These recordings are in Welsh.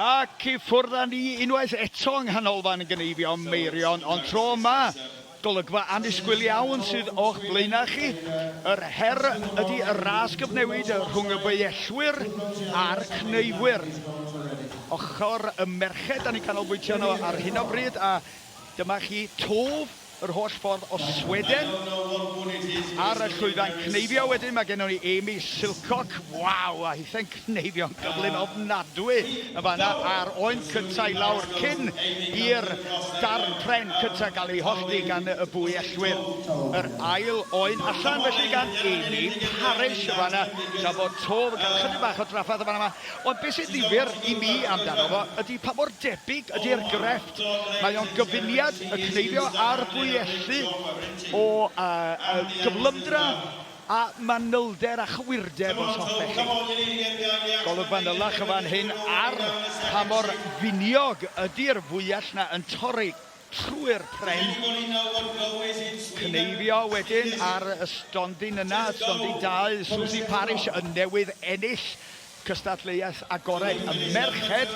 Ac i ffwrdd â ni unwaith eto yng Nghanolfan Gneifio Meirion, ond tro yma, golygfa annisgwyl iawn sydd o'ch blaenau chi. Yr her ydy y ras gyfnewid rhwng y beiellwyr a'r cneifwyr. Ochr y merched, da ni'n canolbwyntio arno ar hyn o bryd, a dyma chi twf yr holl ffordd o Sweden ar y llwyfan cneifio. Wedyn mae gennon ni Amy Silcock, waw, a hithen cneifio'n gyflym ofnadwy yn fanna a'r oen cyntaf i lawr cyn i'r darn pren cyntaf gael ei hollti gan y bwy ellwyr. Yr ail oen allan felly gan Amy Parish yn fanna, tra bod Tove yn cael chydig bach o drafferth yn fan'na. Ond beth sy'n ddifyr i mi amdano fo ydy pa mor debyg ydy'r grefft Mae o'n gyfuniad y cneifio a'r bwyellu o gyflymdra a manylder a chywirdeb os hoffech chi. Golwg fanylach yn fan hyn ar pa mor finiog ydi'r fwyell 'na yn torri trwy'r pren. Cneifio wedyn ar y stondin yna, stondin dau Suzy Parish yn newydd ennill Cystadleuaeth agored y merched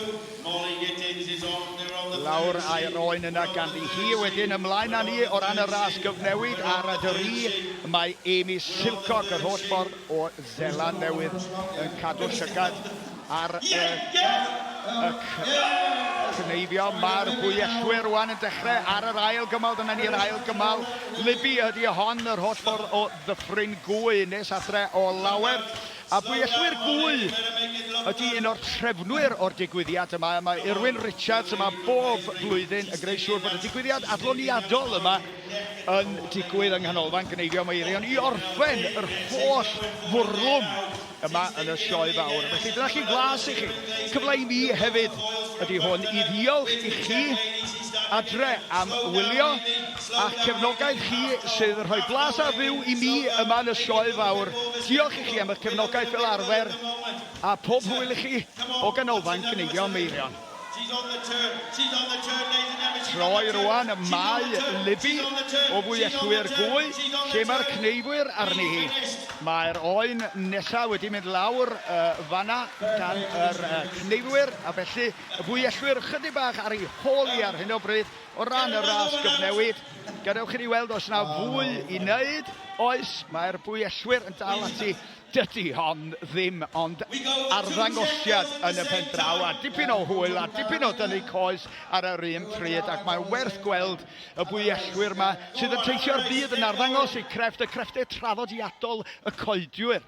lawr a'i roen yna ganddi hi wedyn ymlaen â ni o ran y ras gyfnewid a rydw i mae Amy Silcock yr holl ffordd o Seland Newydd yn cadw llygad ar y y cneifio mae'r bwyellwyr rwan yn dechrau ar yr ail gymal dyna ni'r ail gymal Libby ydy hon yr holl ffordd o Ddyffryn Gwy nes adre o lawer A Buelli'r Gwy ydy un o'r trefnwyr o'r digwyddiad yma. Yma Irwyn Richards yma bob blwyddyn yn gwneud siŵr bod y digwyddiad adloniadol yma yn digwydd yng Nghanolfan Gneifio Meirion i orffen yr holl fwrlwm yma yn y sioe fawr. Felly dyna chi flas i chi. Cyfle i mi hefyd ydy hwn i ddiolch i chi adre am wylio. a'ch cefnogaeth chi sydd yn rhoi blas a fyw i mi yma yn y Sioe Fawr. Diolch i chi am eich cefnogaeth fel arfer, a phob hwyl i chi o Ganolfan Gneifio Meirion. Troi rwan ym Mae Libby o Fwyellwyr Gwy, lle mae'r cneifwyr arni hi. Mae'r oen nesaf wedi mynd lawr fanna gan yr cneifwyr, a felly y Fwyellwyr ychydig bach ar ei hôl hi ar hyn o bryd. O ran y ras gyfnewid, gadewch i ni weld os na fwy i wneud. Oes, mae'r bwyellwyr yn dal ati. Dydy hon ddim ond arddangosiad yn y pen draw a dipyn o hwyl a dipyn o dynnu coes ar yr un pryd ac mae'n werth gweld y bwyellwyr yma sydd yn teithio'r byd yn arddangos eu crefft, y crefftau traddodiadol, y coedwi'r.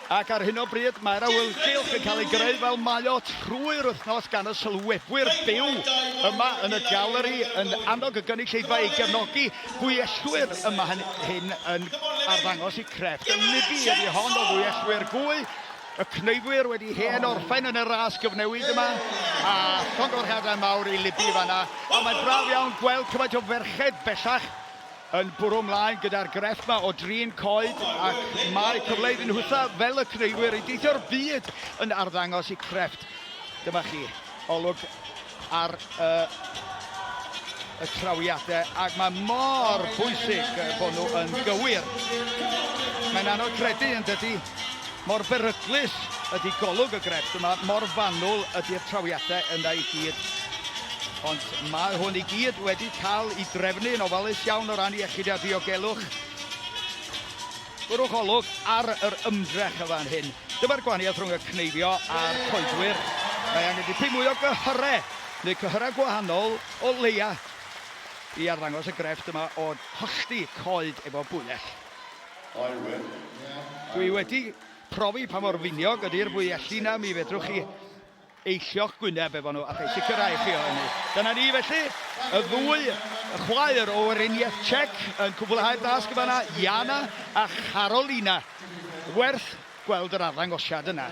Ac ar hyn o bryd mae'r awyrgylch yn cael ei greu fel mae o trwy'r wythnos gan y sylwebwyr byw yma yn y galeri yn annog y gynulleidfa i gefnogi gwyellwyr yma hyn, hyn yn arddangos i crefft y libi ydi hon o dduellwyr gwy y cneifwyr wedi hen orffen yn y ras gyfnewid yma a llongyfarchiadau mawr i libi fanna a mae'n braf iawn gweld cymaint o ferched bellach yn bwrw mlaen gyda'r grefft 'ma o drin coed ac mae cyfle iddyn nhw hwytho fel y creuwyr i deithio'r byd yn arddangos i crefft. Dyma chi olwg ar uh, y trawiadau ac mae mor bwysig bod nhw yn gywir. Mae'n anodd credu yn dydy Mor beryglus ydi golwg y grefft yma, mor fanwl ydi'r trawiadau yna i gyd. Ond mae hwn i gyd wedi cael ei drefnu yn ofalus iawn o ran iechyd a diogelwch. Gwrwch olwg ar yr ymdrech y fan hyn. Dyma'r gwahaniaeth rhwng y cneifio a'r coedwir. Mae angen dipyn mwy o gyhyrau, neu cyhyrau gwahanol o leia, i arddangos y grefft yma o hollti coed efo bwyell. Dwi wedi profi pa mor finiog ydy'r fwyelli 'na, mi fedrwch chi eillio'ch gwyneb efo nhw, a rhaid sicrhau i chi o hynny. Dyna ni felly, y ddwy chwaer o Weriniaeth Czech yn cwblhau'r dasg yn fanna, Jana a Karolina. Werth gweld yr arddangosiad yna.